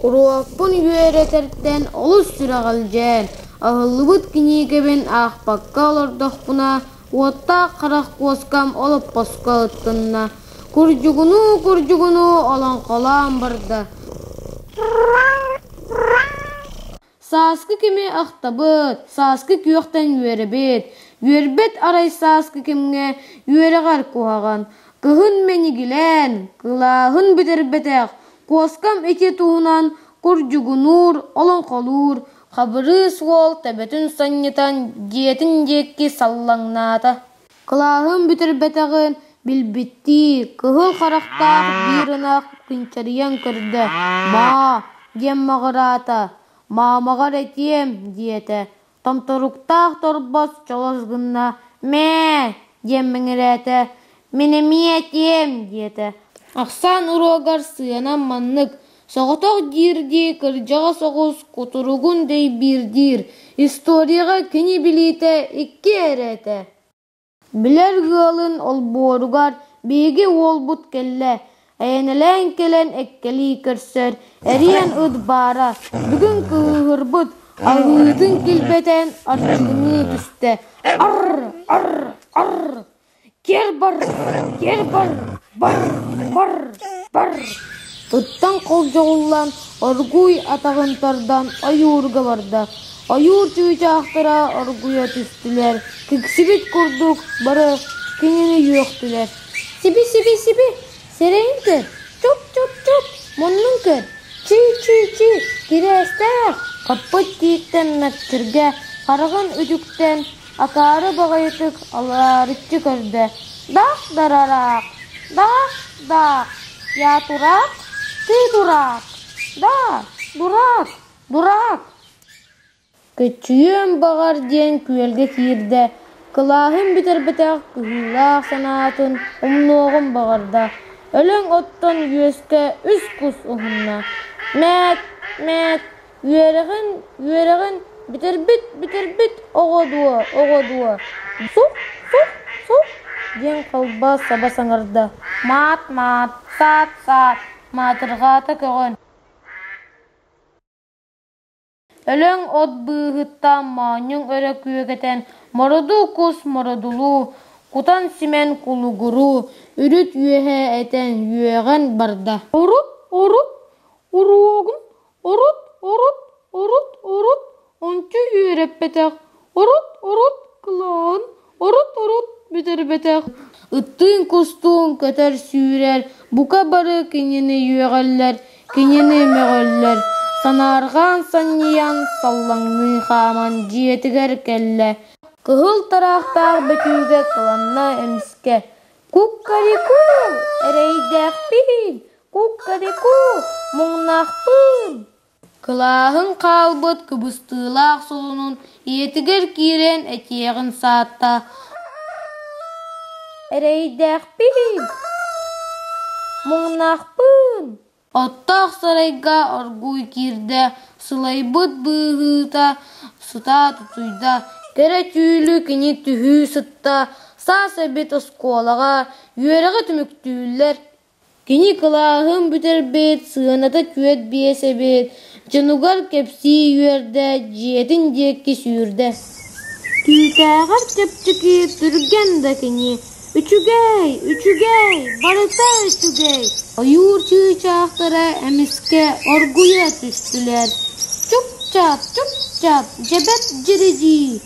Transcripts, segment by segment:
Уруокпун үөрэтэртэн олус сүрэҕэлдьээн, аһыллыбыт кинигэбин аахпакка олордохпуна, уоттаах харах куоскам олоппоско ыттынна, курдьугунуу-курдьугунуу олоҥхолоон барда Сааскы кими ахтабыт, сааскы күөхтэн үөрэбит. Үөрбэт арай сааскы кэмҥэ үөрэҕэр куһаҕан. Кыһын мэнигилээн, кылааһын бүтэрбэтэх, куоскам ити туһунан курдьугунуур, олоҥхолуур Хабырыыс уол төбөтүн сонньутан дьиэтин диэки саллаҥнаата Кылааһым бүтэрбэтэҕин билбиттии, кыһыл харахтаах биир ынах күнчэрийэн көрдө: «Баа» диэн маҕыраата, «Маамаҕар этиэм» диэтэ, томторуктаах торбос чолос гынна: «Мээ» диэн мэҥирээтэ, «Мин эмиэ этиэм» диэтэ, ахсаан уруогар сыанам маннык: Соҕотох диир-дии кырдьаҕас оҕус кутуругун дэйбиирдиир, историяҕа кини билиитэ икки эрэ этэ Билэр ыалын олбуоругар биһиги уолбут кэллэ, эйэнэлээн кэлэн эккэлии көрсөр, эрийэн ыт баара, бүгүн кыыһырбыт, аһыытын килбэтэн арчыланыы түстэ, ар-ар-ар Кэр-бар, кэр-бар, бар, бар, бар Туттан холдьоҕуллан, оргууй атаҕын тардан ойуурга барда. Ойуур чыычаахтара оргуйа түстүлэр, киксибит курдук бары кинини үөхтүлэр. «Сиби, сиби, сиби! Сирэйин көр! Чуп-чуп-чуп! Муннун көр! Чий-чий-чий! Кириэстээх!» Оппут кииттэн Мэкчиргэ хараҕын үтүктэн, Акаары баҕайытык алаарыччы көрдө: «Дах дарараах, дах даах, я тураак, ты дураак, даа, дураак, дураак» Кыччыйыам баҕар диэн күөлгэ киирдэ, кылааһын бүтэрбэтэх кыһыылаах санаатын умнуоҕун баҕарда, өлөҥ оттон үөскэ үс кус уһунна: «Мээт, мээт» Үөрэҕин, үөрэҕин бүтэрбит, бүтэрбит, оҕо дуо, оҕо дуо, су, су, су, диэн халба саба саҥарда, маат-маат, саат-саат, маатырҕаата көҕөн. Өлөҥ от быыһыттан моонньуҥ өрө күөкэтэн мороду кус мородулуу, кутан симэн кулугуруу, үрүт үөһэ этэн үөҕэн барда. Урут, урут, уруогун Урут, урут, урут, урут ончу үөрэппэтэх, урут, урут кылааһын, урут, урут бүтэрбэтэх, ыттыын-кустуун көтөр-сүүрэр, бука бары кинини үөҕэллэр, кинини мөҕөллөр, санаарҕаан-санньыйан саллаҥныы хааман дьиэтигэр кэллэ, кыһыл тараахтаах бөтүүкэ кыланна эмискэ: «Куккарикуу, эрэйдээхпиһин, Куккадыку, муҥнаахпын! Кылааһын хаалбыт кыбыстыылаах солунун ийэтигэр киирэн этиэҕин саатта: «Эрэйдээхпин! Муҥнаахпын!» Оттоох сарайга оргууй киирдэ, сылайбыт быыһыыта сытаат утуйда, кэрэ түүлү кини түһүү сытта, саас эбит оскуолаҕа, үөрэҕи түмүктүүллэр Кини кылааһым бүтэрбит, сыаната түөрт биэс эбит, дьонугар кэпсии үөрдэ, дьиэтин диэки сүүрдэ Түүтээҕэр чэпчэки түргэн да кини «Үчүгэй! Үчүгэй! Барыта үчүгэй!» ойуур чыычаахтара эмискэ оргуйа түстүлэр Чуп-чап! Чуп-чап! Дьэбэт дьиридии!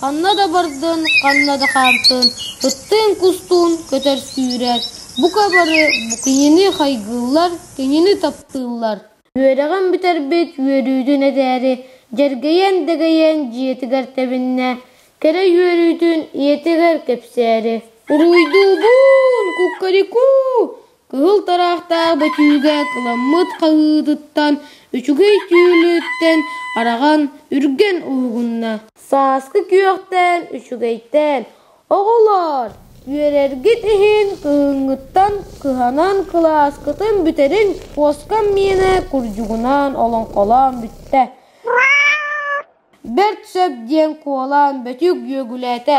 Ханна да бардын, ханна да хаамтын, ыттыын-кустуун көтөр сүүрэр, бука бары кинини хайгыыллар, кинини таптыыллар. Үөрэҕин бүтэрбит үөрүүтүн этээри дьэргэйэн-дэгэйэн дьиэтигэр тэбиннэ, кэрэ үөрүүтүн ийэтигэр кэпсээри: «Уруйдуубун, куккарикуу! Кыһыл тараахтаах бөтүүгэ кыламмыт хаһыытыттан үчүгэй түүлүттэн араҕан үргэн уһугунна: «Сааскы күөхтэн, үчүгэйтээн, оҕолоор, үөрэргит иһин кыһыҥҥыттан кыһанан кылааскытын бүтэрин куоскам миэнэ курдьугунаан олоҥхолоон бүттэ, бэрт сөп» диэн куолаан Бөтүүк дьүөгүлээтэ.